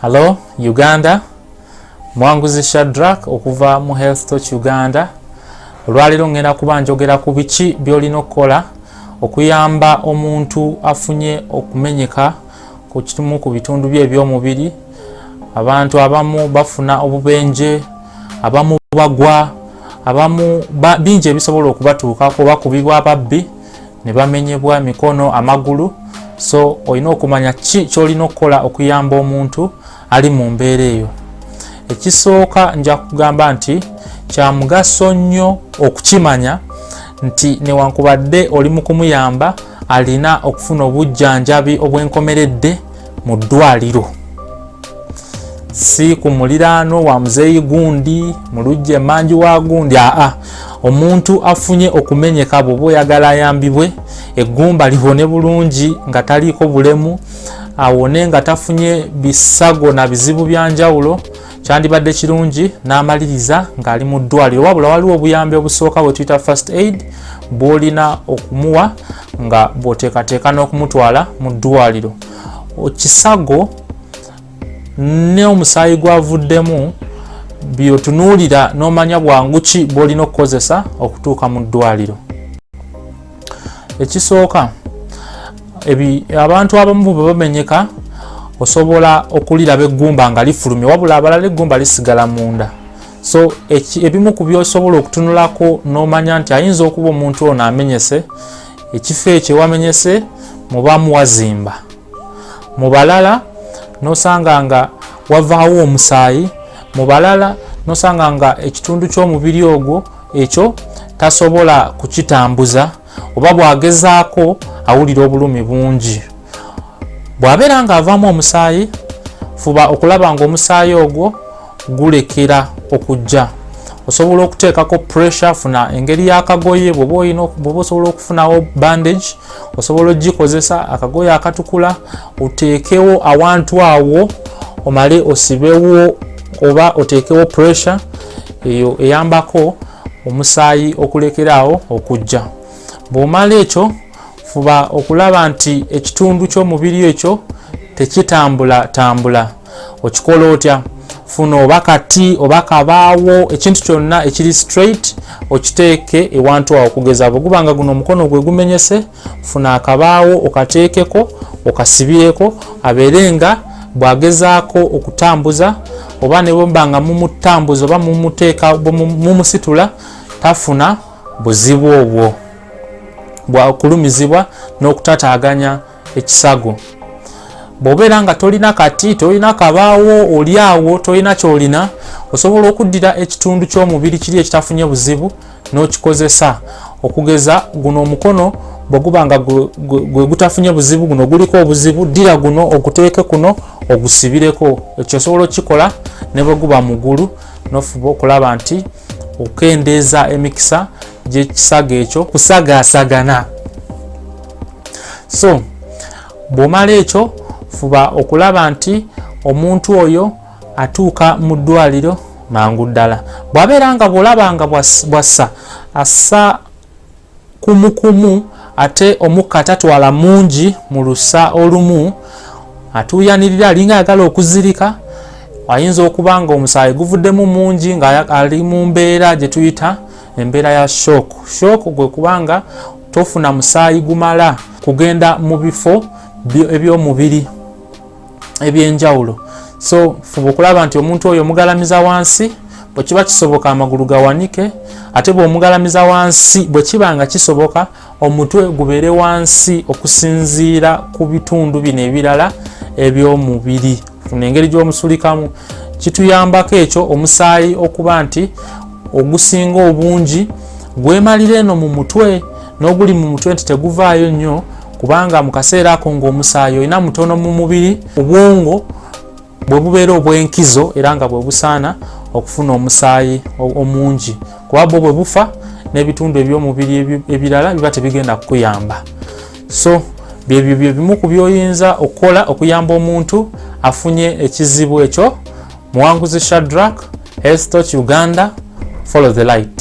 Hello Uganda, mwanguzi Shadrack okuva mu Health Touch Uganda. Olwaleero ngenda kuba njogera ku biki by'olina okukola okuyamba omuntu afunye okumenyeka ku kimu ku bitundu bye eby'omubiri. Abantu abamu bafuna obubenje, abamu bagwa, abamu bingi ebisobola okubatuukako oba kubibwa ababbi. ne bamenyebwa mikono amagulu so olina okumanya ki kyolina okukola okuyamba omuntu ali mu mbeera eyo ekisooka nja kugamba nti kya mugaso nnyo okukimanya nti newankubadde oli mu kumuyamba alina okufuna obujjanjabi obwenkomeredde mu ddwaliro si ku muliraano wa muzeeyi gundi mu lujja emanju wa gundi aa omuntu afunye okumenyeka bwoba oyagala ayambibwe eggumba liwone bulungi nga taliiko bulemu awone nga tafunye bisago na bizibu bya njawulo kyandibadde kirungi n'amaliriza ng'ali mu ddwaliro wabula waliwo obuyambi obusooka bwe tuyita first aid bw'olina okumuwa nga bw'oteekateeka n'okumutwala mu ddwaliro kisago ne omusaayi gwavuddemu byotunuulira n'omanya bwangu ki bw'olina okukozesa okutuuka mu ddwaliro ekisooka abantu abamu bwe bamenyeka osobola okuliraba eggumba nga lifulumye wabula abalala eggumba lisigala munda so ebimu ku byosobola okutunulako n'omanya nti ayinza okuba omuntu ono amenyese ekifo ekyo wamenyese mubamu wazimba mu balala nosanga nga wavaawo omusaayi mu balala nosanga nga ekitundu ky'omubiri ogwo ekyo tasobola kukitambuza oba bwagezaako awulira obulumi bungi bw'abeera ng'avaamu omusaayi fuba okulaba ng'omusaayi ogwo gulekera okujja osobola okuteekako pressure funa engeri y'akagoye bwoba olina bwoba osobola okufunawo bandage osobola ogikozesa akagoye akatukula oteekewo awantu awo omale osibewo oba oteekewo pressure eyo eyambako omusaayi okulekeraawo okujja bw'omala ekyo fuba okulaba nti ekitundu ky'omubiri ekyo tekitambulatambula okikola otya funa oba kati oba kabaawo ekintu kyonna ekiri straight okiteeke ewantu awo okugeza bwe guba nga guno omukono gwe gumenyese funa akabaawo okateekeko okasibireko abeere nga bwagezaako okutambuza oba ne bwemba nga mumutambuza oba mumuteeka mumusitula tafuna buzibu obwo bwakulumizibwa n'okutataganya ekisago bwobeera nga tolina kati tolina kabaawo oli awo tolina kyolina osobola okuddira ekitundu ky'omubiri kiri ekitafunye buzibu n'okikozesa okugeza guno omukono bwe guba nga gwe gutafunye buzibu guno guliko obuzibu ddira guno oguteeke kuno ogusibireko ekyo osobola okukikola ne bwe guba mugulu nofuba okulaba nti okukendeeza emikisa gyekisaga ekyo kusagaasagana so bwomala ekyo fuba okulaba nti omuntu oyo atuuka mu ddwaliro mangu ddala bwabeera nga bwolaba nga bwassa assa kumu kumu ate omukka tatwala mungi mu lusa olumu atuuyanirira alinga ayagala okuzirika ayinza okuba nga omusaayi guvuddemu mungi ngaali mu mbeera gye tuyita embeera ya shock shock gwe kubanga tofuna musaayi gumala kugenda mu bifo eby'omubiri ebyenjawulo so fuba okulaba nti omuntu oyo omugalamiza wansi bwekiba kisoboka amagulu gawanike ate bwomugalamiza wansi bwekiba nga kisoboka omutwe gubeere wansi okusinziira ku bitundu bino ebirala ebyomubiri funa engeri gyomusulikamu kituyambako ekyo omusaayi okuba nti ogusinga obungi gwemalira eno mu mutwe n'oguli mu mutwe nti teguvaayo nnyo kubanga mu kaseera ako ng'omusaayi olina mutono mu mubiri obwongo bwe bubeera obw'enkizo era nga bwe busaana okufuna omusaayi omungi kuba bwo bwe bufa n'ebitundu eby'omubiri ebirala biba tebigenda kukuyamba so byebyo bye bimu ku byoyinza okukola okuyamba omuntu afunye ekizibu ekyo muwanguzi shadrak hestoch uganda follow the light